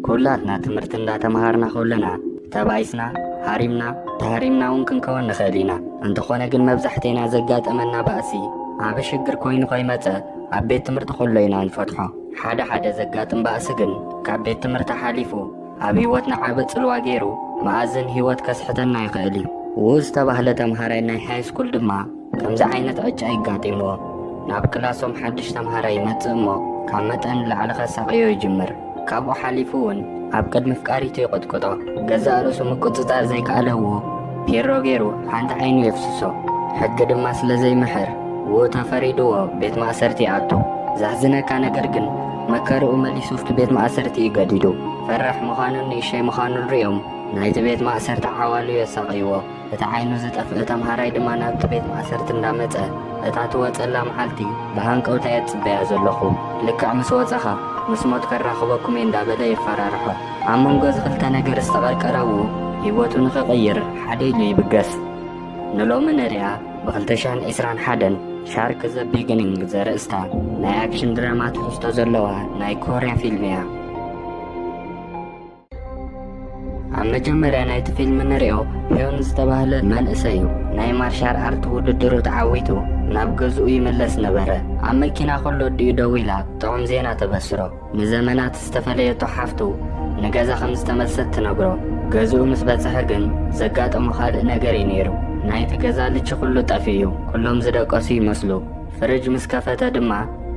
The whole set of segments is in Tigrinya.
ኩላትና ትምህርቲ እንዳተምሃርና ከለና ተባኢስና ሃሪምና ተሃሪምና እውን ክንከውን ንኽእል ኢና እንተኾነ ግን መብዛሕቴና ዘጋጠመና ባእሲ ዓበ ሽግር ኮይኑ ከይመፀ ኣብ ቤት ትምህርቲ ከሎ ኢና ንፈትሖ ሓደ ሓደ ዘጋጥም ባእሲ ግን ካብ ቤት ትምህርቲ ሓሊፉ ኣብ ህይወትና ዓቢ ጽልዋ ገይሩ መኣዝን ህይወት ከስሕተና ይኽእል እዩ። ውኡ ዝተባህለ ተምሃራይ ናይ ሃይስኩል ድማ ከምዚ ዓይነት ዕጫ ይጋጢምዎ። ናብ ክላሶም ሓድሽ ተምሃራይ ይመጽእ እሞ ካብ መጠን ንላዕሊ ከሳቕዮ ይጅምር። ካብኡ ሓሊፉ እውን ኣብ ቅድሚ ኣፍቃሪቱ ይቕጥቅጦ። ገዛእ ርእሱ ምቁጽጻር ዘይከኣለ ውኡ፣ ፔሮ ገይሩ ሓንቲ ዓይኑ የፍስሶ ሕጊ ድማ ስለ ዘይምሕር ው ተፈሪድዎ ቤት ማእሰርቲ ይኣቱ ዘሕዝነካ ነገር ግን መከርኡ መሊሱ ኣብቲ ቤት ማእሰርቲ እዩ ገዲዱ ፈራሕ ምዃኑን ንእሸይ ምዃኑን ርዮም ናይቲ ቤት ማእሰርቲ ዓዋሉ የሳቕይዎ እቲ ዓይኑ ዝጠፍእ ተምሃራይ ድማ ናብቲ ቤት ማእሰርቲ እንዳመፀ እታ ትወፀላ መዓልቲ ብሃንቀውታ እየ ዝፅበያ ዘለኹ ልክዕ ምስ ወፀኻ ምስ ሞት ከራኽበኩም እየ እንዳበለ የፈራርሖ ኣብ መንጎ እዚ ክልተ ነገር ዝተቐርቀረው ህይወቱ ንኽቕይር ሓደ ኢሉ ይብገስ። ንሎሚ ንሪኣ ብክልተ ሽሕን ዕስራን ሓደን ሻርክ ዘ ቢግኒንግ ዘርእስታ ናይ ኣክሽን ድራማ ትሕዝቶ ዘለዋ ናይ ኮርያ ፊልም እያ። ኣብ መጀመርያ ናይቲ ፊልም ንሪኦ ሂዮን ዝተባህለ መንእሰይ እዩ ናይ ማርሻል ኣርት ውድድሩ ተዓዊቱ ናብ ገዝኡ ይምለስ ነበረ ኣብ መኪና ከሎ ኣዲኡ ደዊላ ጥዑም ዜና ተበስሮ ንዘመናት ዝተፈለየቶ ሓፍቱ ንገዛ ከም ዝተመልሰት ትነግሮ። ገዝኡ ምስ በጽሐ ግን ዘጋጠሞ ካልእ ነገር እዩ ነይሩ። ናይቲ ገዛ ልቺ ኩሉ ጠፊኡ። ኩሎም ዝደቀሱ ይመስሉ። ፍርጅ ምስ ከፈተ ድማ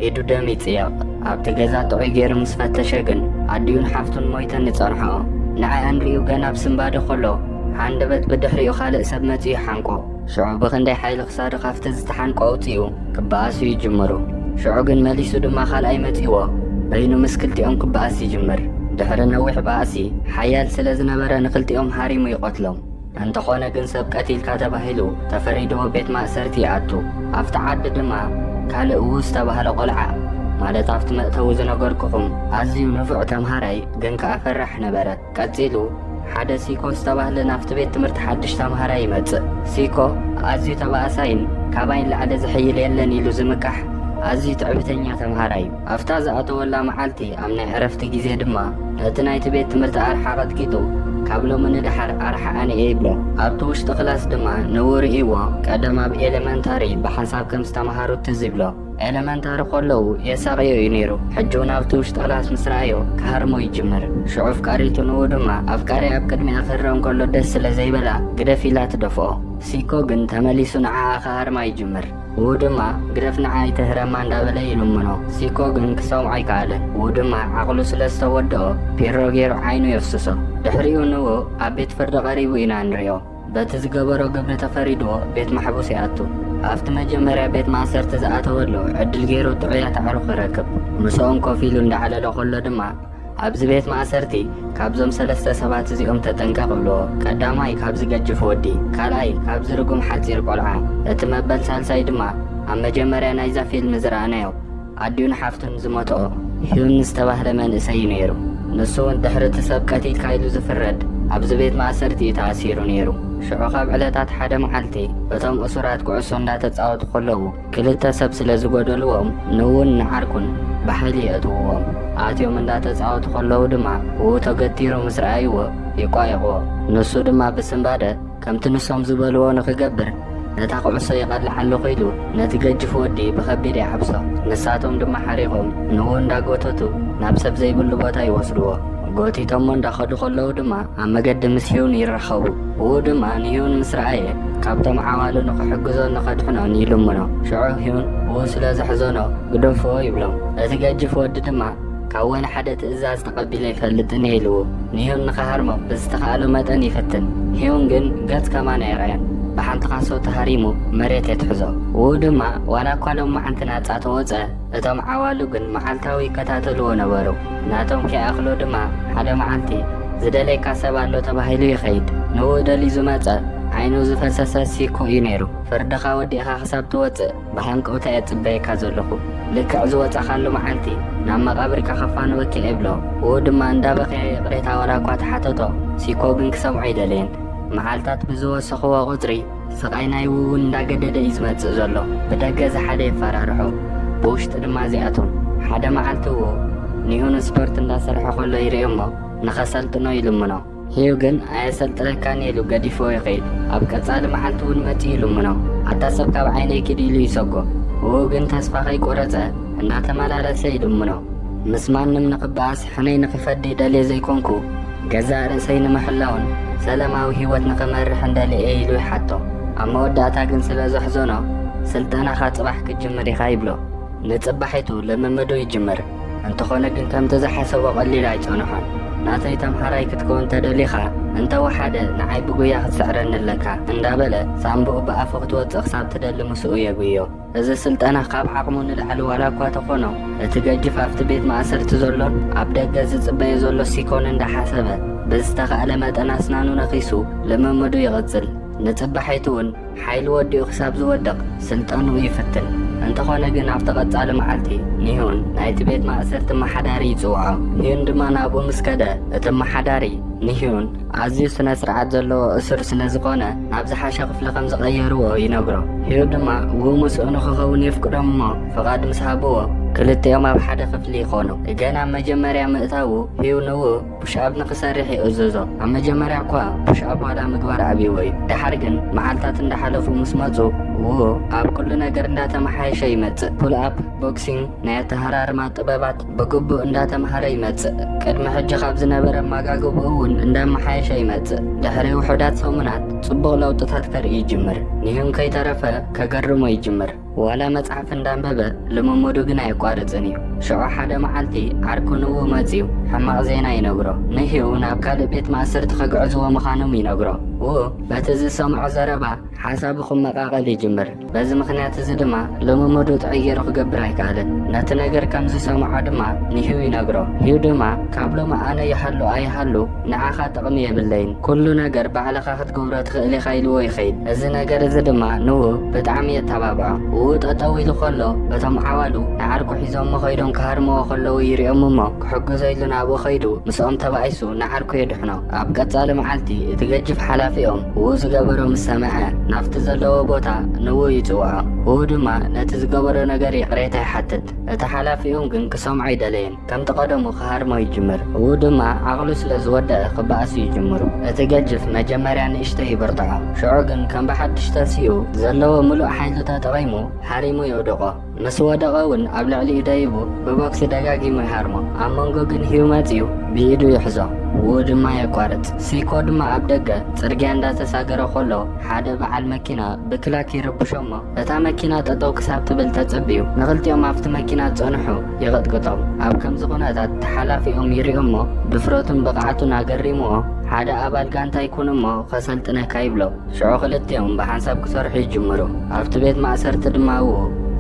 ኢዱ ደም ይጽየቕ። ኣብቲ ገዛ ጥዑይ ገይሩ ምስ ፈተሸ ግን ኣዲኡን ሓፍቱን ሞይተን ይጸንሕኦ። ንዐኣን ሪኡ ገና ኣብ ስንባደ ከሎ ሃንደበት ብድሕሪኡ ካልእ ሰብ መጺኡ ይሓንቆ። ሽዑ ብኽንደይ ሓይሊ ክሳዱ ካብቲ ዝተሓንቆ ኣውጺኡ ክበኣሱ ይጅምሩ። ሽዑ ግን መሊሱ ድማ ካልኣይ መጺእዎ በይኑ ምስ ክልቲኦም ክበኣስ ይጅምር። ድሕሪ ነዊሕ ባእሲ ሓያል ስለ ዝነበረ ንኽልቲኦም ሃሪሙ ይቐትሎም። እንተኾነ ግን ሰብ ቀቲልካ ተባሂሉ ተፈሪድዎ ቤት ማእሰርቲ ይኣቱ። ኣብቲ ዓዲ ድማ ካልእ ዉኡ ዝተባህለ ቆልዓ ማለት ኣብቲ መእተዊ ዝነገርኩኹም ኣዝዩ ንፉዕ ተምሃራይ ግን ከኣ ፈራሕ ነበረ። ቀጺሉ ሓደ ሲኮ ዝተባህለ ናብቲ ቤት ትምህርቲ ሓድሽ ተምሃራይ ይመጽእ። ሲኮ ኣዝዩ ተባኣሳይን ካባይ ንላዕሊ ዝሕይል የለን ኢሉ ዝምካሕ ኣዝዩ ትዕቢተኛ ተምሃራይ እዩ። ኣብታ ዝኣተወላ መዓልቲ ኣብ ናይ ዕረፍቲ ግዜ ድማ ነቲ ናይቲ ቤት ትምህርቲ ኣርሓ ቀጥቂጡ ካብ ሎሚ ንደሓር ኣርሓ ኣነ እየ ይብሎ። ኣብቲ ውሽጢ ክላስ ድማ ንእኡ ርእይዎ ቀደም ኣብ ኤለመንታሪ ብሓንሳብ ከም ዝተምሃሩ ትዝ ይብሎ። ኤለመንታሪ ኮለዉ የሳቕዮ እዩ ነይሩ ሕጂ ውን ኣብቲ ውሽጢ ክላስ ምስ ረኣዮ ክሃርሞ ይጅምር ሽዑ ኣፍቃሪቱ ንኡ ድማ ኣፍቃሪኣ ኣብ ቅድሚኣ ክህረም ከሎ ደስ ስለ ዘይበላ ግደፍ ኢላ ትደፍኦ ሲኮ ግን ተመሊሱ ንዓኣ ክሃርማ ይጅምር ው ድማ ግደፍ ንዓ ኣይትህረማ እንዳበለ ይልምኖ ሲኮ ግን ክሰምዖ ኣይከኣለን ው ድማ ዓቕሉ ስለ ዝተወደኦ ፒሮ ገይሩ ዓይኑ የፍስሶ ድሕሪኡ ንኡ ኣብ ቤት ፍርዲ ቀሪቡ ኢና ንሪኦ በቲ ዝገበሮ ግብሪ ተፈሪድዎ ቤት ማሕቡስ ይኣቱ። ኣብቲ መጀመርያ ቤት ማእሰርቲ ዝኣተወሉ ዕድል ገይሩ ጥዑያት ኣዕሩኽ ይረክብ። ምስኦም ኮፍ ኢሉ እንዳዕለለ ከሎ ድማ ኣብዚ ቤት ማእሰርቲ ካብዞም ሰለስተ ሰባት እዚኦም ተጠንቀቕ ይብልዎ። ቀዳማይ ካብዚ ገጅፍ ወዲ፣ ካልኣይ ካብዚ ርጉም ሓጺር ቆልዓ፣ እቲ መበል ሳልሳይ ድማ ኣብ መጀመርያ ናይዛ ፊልም ዝረኣናዮ፣ ኣዲኡን ሓፍቱን ዝሞትኦ ሂዩን ዝተባህለ መንእሰይ እዩ ነይሩ። ንሱ እውን ድሕሪ እቲ ሰብ ቀቲልካ ኢሉ ዝፍረድ ኣብዚ ቤት ማእሰርቲ እዩ ተኣሲሩ ነይሩ። ሽዑ ካብ ዕለታት ሓደ መዓልቲ እቶም እሱራት ኩዕሶ እንዳተጻወቱ ከለዉ ክልተ ሰብ ስለ ዝጎደልዎም ንውን ንዓርኩን ብሓይሊ የእትውዎም። ኣትዮም እንዳተጻወቱ ከለዉ ድማ ውኡ ተገቲሩ ምስ ረኣይዎ ይቋየቕዎ። ንሱ ድማ ብስንባደ ከምቲ ንሶም ዝበልዎ ንኽገብር ነታ ኩዕሶ ይቐልዕ ኣለኹ ኢሉ ነቲ ገጅፍ ወዲ ብኸቢድ ይሓብሶ። ንሳቶም ድማ ሓሪቖም ንኡ እንዳጎተቱ ናብ ሰብ ዘይብሉ ቦታ ይወስድዎ። ጎቲቶሞ እንዳኸዱ ከለዉ ድማ ኣብ መገዲ ምስ ሂዩን ይራኸቡ። ኡኡ ድማ ንሂዩን ምስ ረኣየ ካብቶም ዓዋሉ ንኽሕግዞን ንኸድሕኖን ይልምኖ። ሽዑ ሂዩን ኡኡ ስለ ዘሕዘኖ ግደፍዎ ይብሎም። እቲ ገጅፍ ወዲ ድማ ካብ ወላ ሓደ ትእዛዝ ተቐቢለ ኣይፈልጥን እየ ኢልዎ። ንሂዩን ንኸሃርሞ ብዝተኻእሎ መጠን ይፍትን። ሂዩን ግን ገጽ ከማን ኣየርኣዮን። ብሓንቲ ካሶ ተሃሪሙ መሬት የትሕዞ። ውኡ ድማ ዋላ እኳ ሎማዓንቲ ናጻ ተወጸ፣ እቶም ዓዋሉ ግን መዓልታዊ ይከታተልዎ ነበሩ። ናቶም ከይኣኽሎ ድማ ሓደ መዓልቲ ዝደለየካ ሰብ ኣሎ ተባሂሉ ይኸይድ። ንውኡ ደልዩ ዝመጸ ዓይኑ ዝፈሰሰ ሲኮ እዩ ነይሩ። ፍርድኻ ወዲእኻ ክሳብ ትወጽእ፣ ብሃንቀውታ እየ ዝጽበየካ ዘለኹ። ልክዕ ዝወጻኻሉ መዓልቲ ናብ መቓብርካ ከፋንወኪ እብሎ። ዉኡ ድማ እንዳበኸየ ይቕሬታ ዋላኳ ተሓተቶ፣ ሲኮ ግን ክሰምዖ ኣይደለየን። መዓልታት ብዝወሰኹዎ ቁጽሪ ስቓይ ናይ ዉዉ እንዳገደደ እዩ ዝመጽእ ዘሎ። ብደገ እዚ ሓደ የፈራርሖ ብዉሽጢ ድማ እዚ ኣቶም። ሓደ መዓልቲ ዉኡ ንዩሁን ስፖርት እንዳሰርሐ ከሎ ይርእዮ እሞ ንኸሰልጥኖ ይልምኖ። ህዩ ግን ኣየሰልጥነካን ኢሉ ገዲፍዎ ይኸይድ። ኣብ ቀጻሊ መዓልቲ እውን መጺኡ ይልምኖ። ኣታ ሰብ ካብ ዓይነይ ኪድ ኢሉ ይሰጎ። እኡ ግን ተስፋ ከይቆረጸ እናተመላለሰ ይልምኖ። ምስ ማንም ንኽበኣስ ሕነይ ንኽፈዲ ደልየ ዘይኮንኩ፣ ገዛእ ርእሰይ ንምሕላውን ሰለማዊ ህይወት ንኽመርሕን ደልየ እየ ኢሉ ይሓቶ። ኣብ መወዳእታ ግን ስለ ዘሕዘኖ ስልጠናኻ ጽባሕ ክትጅምር ኢኻ ይብሎ። ንጽባሒቱ ልምምዱ ይጅምር። እንተኾነ ግን ከምቲ ዝሓሰቦ ቀሊል ኣይጸንሖን። ናተይ ተምሃራይ ክትከውን ተደሊኻ እንተ ወሓደ ንዓይ ብጉያ ክትስዕረኒ ኣለካ እንዳበለ ሳንቡኡ ብኣፉ ክትወጽእ ክሳብ ትደሊ ምስኡ የጉዮ። እዚ ስልጠና ካብ ዓቕሙ ንላዕሊ ዋላ እኳ ተኾኖ እቲ ገጅፍ ኣብቲ ቤት ማእሰርቲ ዘሎን ኣብ ደገ ዝጽበዮ ዘሎ ሲኮን እንዳሓሰበ ብዝተኻእለ መጠን ኣስናኑ ነኺሱ ልምምዱ ይቕጽል። ንጽባሒቱ እውን ሓይሊ ወዲኡ ክሳብ ዝወድቕ ስልጣኑ ይፍትን። እንተኾነ ግን ኣብቲ ቀጻሊ መዓልቲ ንህዩን ናይቲ ቤት ማእሰርቲ ኣመሓዳሪ ይጽውዖ። ህዩን ድማ ናብኡ ምስ ከደ እቲ ኣመሓዳሪ ንህዩን ኣዝዩ ስነ ስርዓት ዘለዎ እሱር ስለ ዝኾነ ናብ ዝሓሸ ክፍሊ ከም ዝቐየርዎ ይነግሮ። ህዩ ድማ እው ምስኡ ንክኸውን የፍቅዶም እሞ ፍቓድ ምስ ሃብዎ ክልቲኦም ኣብ ሓደ ክፍሊ ይኾኑ። ገና ኣብ መጀመርያ ምእታዉ ህዩ ንው ፑሽኣፕ ንኽሰርሕ ይእዘዞ። ኣብ መጀመርያ እኳ ፑሽኣፕ ዋላ ምግባር ኣብይዎ እዩ። ደሓር ግን መዓልታት እንዳሓለፉ ምስ መጹ ዉኡ ኣብ ኩሉ ነገር እንዳተመሓየሸ ይመጽእ። ፑልኣፕ፣ ቦክሲንግ፣ ናይ ኣተሃራርማ ጥበባት ብግቡእ እንዳተምሃረ ይመጽእ። ቅድሚ ሕጂ ካብ ዝነበረ ኣመጋግብኡ ዉን እንዳመሓየሸ ይመጽእ። ድሕሪ ዉሑዳት ሰሙናት ጽቡቕ ለዉጥታት ከርኢ ይጅምር። ንሂዩን ከይተረፈ ከገርሞ ይጅምር። ዋላ መጽሓፍ እንዳንበበ ልምምዱ ግን ኣየቋርጽን እዩ። ሽዑ ሓደ መዓልቲ ዓርኩ ንዉ መጺኡ ሕማቕ ዜና ይነግሮ። ንህዩ ናብ ካልእ ቤት ማእሰርቲ ከግዕዝዎ ምዃኖም ይነግሮ። ዉኡ በቲ ዝሰምዖ ዘረባ ሓሳቡ ክመቓቐል ይጅምር። በዚ ምኽንያት እዚ ድማ ልምምዱ ጥዕይ ጌሩ ክገብር ኣይከኣለን። ነቲ ነገር ከም ዝሰምዖ ድማ ንህዩ ይነግሮ። ህዩ ድማ ካብ ሎሚ ኣነ ይሃሉ ኣይሃሉ ንዓኻ ጥቕሚ የብለይን፣ ኩሉ ነገር ባዕልኻ ክትገብሮ ትኽእል ኢኻ ኢልዎ ይኸይድ። እዚ ነገር እዚ ድማ ንውብ ብጣዕሚ የተባብዖ። ውብ ጠጠው ኢሉ ከሎ እቶም ዓዋሉ ንዓርኩ ሒዞሞ ከይዶም ክሃርምዎ ከለዉ ይሪኦም እሞ ክሕግዞ ኢሉ ናብኡ ከይዱ ምስኦም ተባኢሱ ንዓርኩ የድሕኖ። ኣብ ቀፃሊ መዓልቲ እቲ ገጅፍ ሓላፊኦም ውብ ዝገበሮ ምስ ሰምዐ ናብቲ ዘለዎ ቦታ ንውብ ይፅውዖ። ውብ ድማ ነቲ ዝገበሮ ነገር ይቕሬታ ይሓትት። እቲ ሓላፊኦም ግን ክሰምዖ ኣይደለየን። ከምቲ ቀደሙ ክሃርሞ ይጅምር እው ድማ ዓቕሉ ስለ ዝወደኣ ክበኣስ ይጅምሩ እቲ ገጅፍ መጀመርያ ንእሽተ ይብርትዖ ሽዑ ግን ከም ብሓድሽ ተንሲኡ ዘለዎ ምሉእ ሓይሉ ተጠቒሙ ሃሪሙ የውድቖ ምስ ወደቐ እውን ኣብ ልዕሊኡ ደይቡ ብቦክሲ ደጋጊሙ ይሃርሞ ኣብ መንጎ ግን ህዩ መፅኡ ብኢዱ ይሕዞ እው ድማ የቋርፅ ሲኮ ድማ ኣብ ደገ ፅርግያ እንዳተሳገረ ኮሎ ሓደ በዓል መኪና ብክላክ ይርብሾ እሞ እታ መኪና ጠጠው ክሳብ ትብል ተጸብዩ ንኽልቲኦም ኣብቲ መኪና ጸንሑ ይቕጥቅጦም። ኣብ ከምዚ ኩነታት ተሓላፊኦም ይሪኦሞ ድፍረቱን ብቕዓቱን ኣገሪሙዎ ሓደ ኣባል ጋንታ ይኩንሞ ከሰልጥነካ ይብሎ። ሽዑ ክልቲኦም ብሓንሳብ ክሰርሑ ይጅምሩ። ኣብቲ ቤት ማእሰርቲ ድማ እው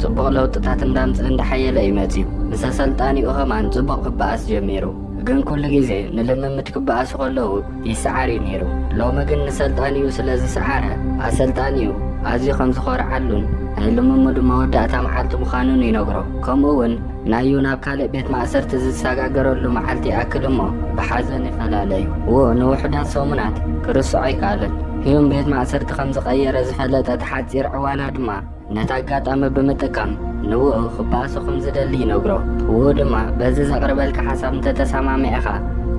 ጽቡቕ ለውጥታት እንዳምጽእ እንዳሓየለ እዩ መጺኡ። ምስ ኣሰልጣኒኡ ከማን ጽቡቕ ክበኣስ ጀሚሩ። ግን ኩሉ ግዜ ንልምምድ ክበኣሱ ከለዉ ይስዓር እዩ ነይሩ ሎሚ ግን ንሰልጣኒኡ ስለ ዝስዓረ ኣሰልጣኒኡ ኣዝዩ ከም ዝኾርዓሉን ናይ ልምምዱ መወዳእታ መዓልቲ ምዃኑን ይነግሮ ከምኡ እውን ናዩ ናብ ካልእ ቤት ማእሰርቲ ዝሰጋገረሉ መዓልቲ ይኣክል እሞ ብሓዘን ይፈላለዩ ው ንውሑዳት ሰሙናት ክርስዖ ኣይከኣልን ህዩም ቤት ማእሰርቲ ከም ዝቐየረ ዝፈለጠት ሓፂር ዕዋላ ድማ ነቲ ኣጋጣሚ ብምጥቃም ንውኡ ክበኣሶ ከም ዝደሊ ይነግሮ። ውኡ ድማ በዚ ዘቕርበልካ ሓሳብ እንተ ተሰማሚዕኻ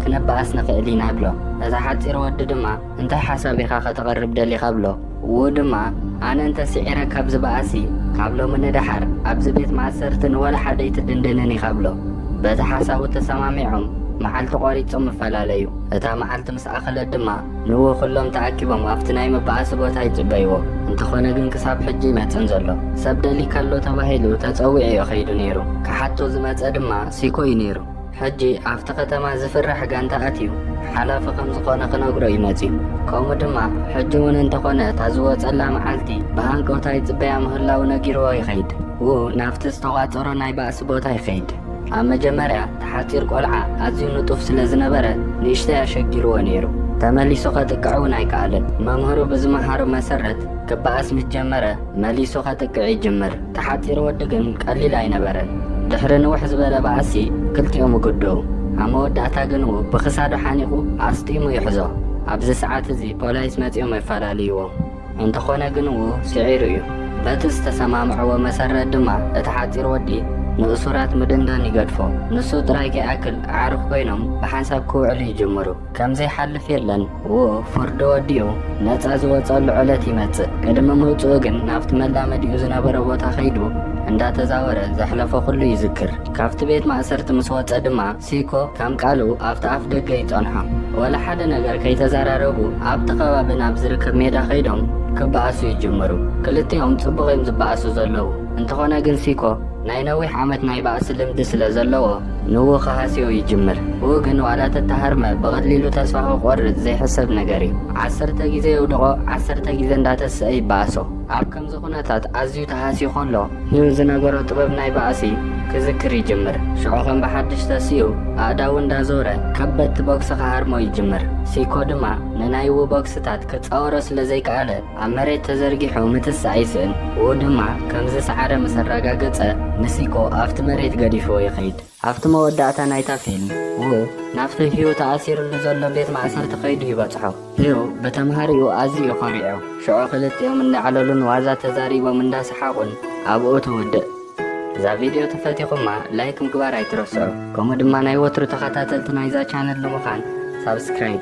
ክንበኣስ ንኽእል ኢና እብሎ። እቲ ሓጺር ወዲ ድማ እንታይ ሓሳብ ኢኻ ከተቕርብ ደሊኻ እብሎ። ውኡ ድማ ኣነ እንተ ስዒረ ካብ ዝበኣስሲ ካብ ሎሚ ንደሓር ኣብዚ ቤት ማእሰርቲ ንወላ ሓደ ኣይትድንድንን ኢኻ እብሎ። በቲ ሓሳቡ ተሰማሚዖም መዓልቲ ቆሪጾም እፈላለዩ። እታ መዓልቲ ምስ ኣኸለት ድማ ንዎ ኩሎም ተኣኪቦም ኣብቲ ናይ መባኣሲ ቦታ ይጽበይዎ። እንተኾነ ግን ክሳብ ሕጂ ኣይመጽን ዘሎ። ሰብ ደሊካ ኣሎ ተባሂሉ ተጸዊዑ እዩ ከይዱ ነይሩ። ክሓቶ ዝመጸ ድማ ሲኮ እዩ ነይሩ። ሕጂ ኣብቲ ከተማ ዝፍራሕ ጋንታ ኣትዩ ሓላፊ ከም ዝኾነ ክነግሮ እዩ መጺኡ። ከምኡ ድማ ሕጂ እውን እንተኾነ እታ ዝወጸላ መዓልቲ ብሃንቀውታ ይጽበያ ምህላዉ ነጊርዎ ይኸይድ። ው ናብቲ ዝተቋጸሮ ናይ ባእሲ ቦታ ይኸይድ። ኣብ መጀመርያ እቲ ሓጺር ቆልዓ ኣዝዩ ንጡፍ ስለ ዝነበረ ንእሽተይ ኣሸጊርዎ ነይሩ። ተመሊሱ ከጥቅዕ እውን ኣይከኣለን። መምህሩ ብዝመሃሮ መሰረት ክበኣስ ምስ ጀመረ መሊሱ ከጥቅዕ ይጅምር። እቲ ሓጺር ወዲ ግን ቀሊል ኣይነበረን። ድሕሪ ንውሕ ዝበለ ባእሲ ክልቲኦም ይጉድኡ። ኣብ መወዳእታ ግን ብክሳዱ ሓኒቑ ኣስጢሙ ይሕዞ። ኣብዚ ሰዓት እዚ ፖላይስ መጺኦም የፈላልይዎም። እንተኾነ ግን ው ስዒሩ እዩ። በቲ ዝተሰማምዕዎ መሰረት ድማ እቲ ሓጺር ወዲ ንእሱራት ምድንዳን ይገድፎ። ንሱ ጥራይ ከይኣክል ኣዕሩኽ ኮይኖም ብሓንሳብ ክውዕሉ ይጅምሩ። ከም ዘይሓልፍ የለን። ው ፍርዱ ወዲኡ ነጻ ዝወጸሉ ዕለት ይመጽእ። ቅድሚ ምውጽኡ ግን ናብቲ መላመዲኡ ዝነበረ ቦታ ከይዱ እንዳተዛወረ ዘሕለፎ ኩሉ ይዝክር። ካብቲ ቤት ማእሰርቲ ምስ ወጸ ድማ ሲኮ ከም ቃሉ ኣብቲ ኣፍ ደገ ይጸንሖ። ወላ ሓደ ነገር ከይተዘራረቡ ኣብቲ ከባቢ ናብ ዝርከብ ሜዳ ከይዶም ክበኣሱ ይጅምሩ። ክልቲኦም ጽቡቕ እዮም ዝበኣሱ ዘለዉ። እንተኾነ ግን ሲኮ ናይ ነዊሕ ዓመት ናይ ባእሲ ልምዲ ስለ ዘለዎ ንኡ ክሃስዮ ይጅምር። ኡኡ ግን ዋላ ተተሃርመ ብቐሊሉ ተስፋ ክቖርጽ ዘይሕሰብ ነገር እዩ። ዓሰርተ ግዜ የውድቖ ዓሰርተ ግዜ እንዳተሰኤ ይበኣሶ። ኣብ ከምዚ ኩነታት ኣዝዩ ተሃስዩ ከሎ ን ዝነበሮ ጥበብ ናይ ባእሲ ክዝክር ይጅምር። ሽዑ ከም ብሓድሽ ተሲኡ ኣእዳዉ እንዳ ዞረ ከበድቲ ቦክሲ ክሃርሞ ይጅምር። ሲኮ ድማ ንናይ ዉ ቦክስታት ክጻወሮ ስለ ዘይከኣለ ኣብ መሬት ተዘርጊሑ ምትሳእ ይስእን። ዉ ድማ ከም ዝሰዓረ ምስ ኣራጋገጸ ንሲኮ ኣብቲ መሬት ገዲፍዎ ይኸይድ። ኣብቲ መወዳእታ ናይታ ፊልም፣ ዉ ናብቲ ህዩ ተኣሲርሉ ዘሎ ቤት ማእሰርቲ ከይዱ ይበጽሖ። ህዩ ብተምሃሪኡ ኣዝዩ እዩ ኮሪዑ። ሽዑ ክልቲኦም እንዳዕለሉን ዋዛ ተዛሪቦም እንዳሰሓቑን ኣብኡ ትውድእ። እዛ ቪድዮ ተፈቲኹማ ላይክ ምግባር ኣይትረስዑ። ከምኡ ድማ ናይ ወትሩ ተኸታተልቲ ናይዛ ቻነል ንምዃን ሳብስክራይብ።